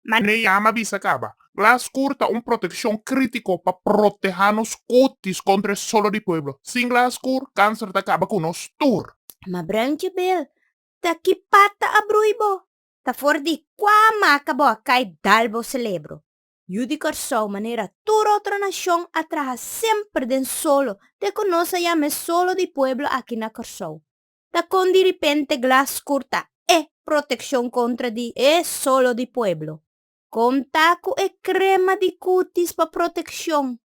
Na e yama bisa kaba, Glass Court ta un protekshon krítiko pa protehá nos kutis kontra e solo di pueblo. Sin Glass Court, kanser ta kaba ku nos tur. Ma Bruintje Bill, ta ki pata a brui bo? Ta for di kua maka bo a kai dal bo selebro? Yu di Kòrsou, manera tur otro nashon, a traha semper den solo te ku nos a yama e solo di pueblo aki na Kòrsou. Ta kon di ripente glas kur ta e protekshon kontra di e solo di pueblo? Kon ta ku e krema di kutis pa protekshon?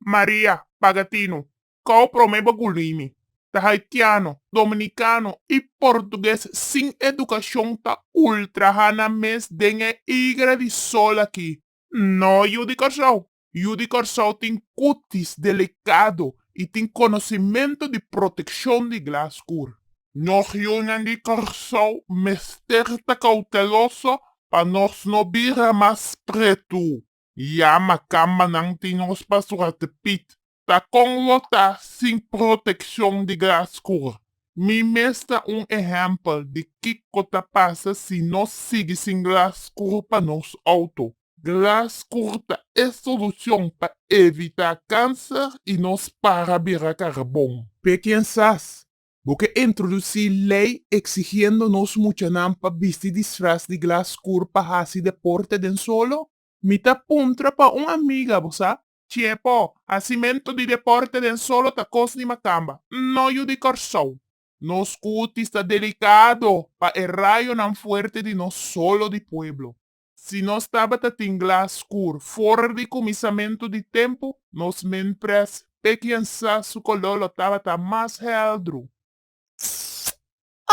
Maria Pagatino, Kau prome bo gulni mi. Ta haitiano, dominikano i portuges sin edukashon ta ultra hana mes den e igra di sol aki. No yu di Kòrsou. Yu di Kòrsou tin kutis delikado i tin konosimentu di protekshon di glas kur. Nos yunan di Kòrsou mester ta kouteloso pa nos no bira mas pretu. Yama kambanan tin nos pastor Arte Piet Ta kon lo ta sin protekshon di graskur. Mi mes ta un ehèmpel di kiko ta pasa si nos sigui sin graskur pa nos outo. Graskur ta e solushon pa evitá kanser i nos para bira karbon. P'e kinsas bo ke introdusí lei eksigiendo nos muchanan pa bisti disfras di graskur pa hasi deporte den solo? Mi ta puntra pa un amiga, bo sa, Tiepo, Hacimentu di deporte den solo ta cos di macamba. No yu di Corsou. Nos cutis ta delicado pa e rayonan fuerte di nos solo di pueblo. Si nos tabata tin glas scur for di cumisamentu di tempu, nos menpres pe kiensa su color lo tabata mas heldru.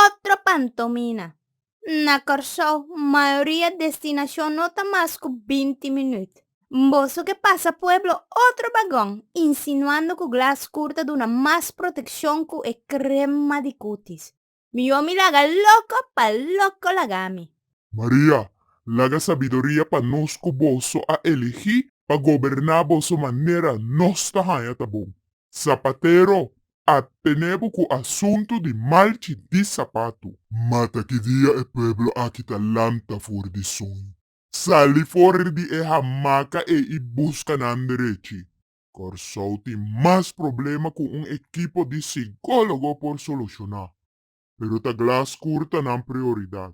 Otro pantomina. Na Kòrsou, mayoria destinashon no ta mas ku binti minüt. Mboso ke pasa pueblo otro bagon, insinuando ku glas skur ta duna mas protekshon ku e krema di kutis. Mi yo mi laga loko pa loko lagami. Maria, laga sabiduria pa nos ku boso a elegí pa goberná boso manera nos ta haña ta bon. Zapatero a tene bo cu asuntu di malchi di sapatu. Mata ki dia e pueblo aki ta lanta for di suño. Sali for di e hamaca ei y busca nan derechi. Corsou tin mas problema cu un ekipo di sigologo por soluciona. Pero ta glas curta nan prioridad.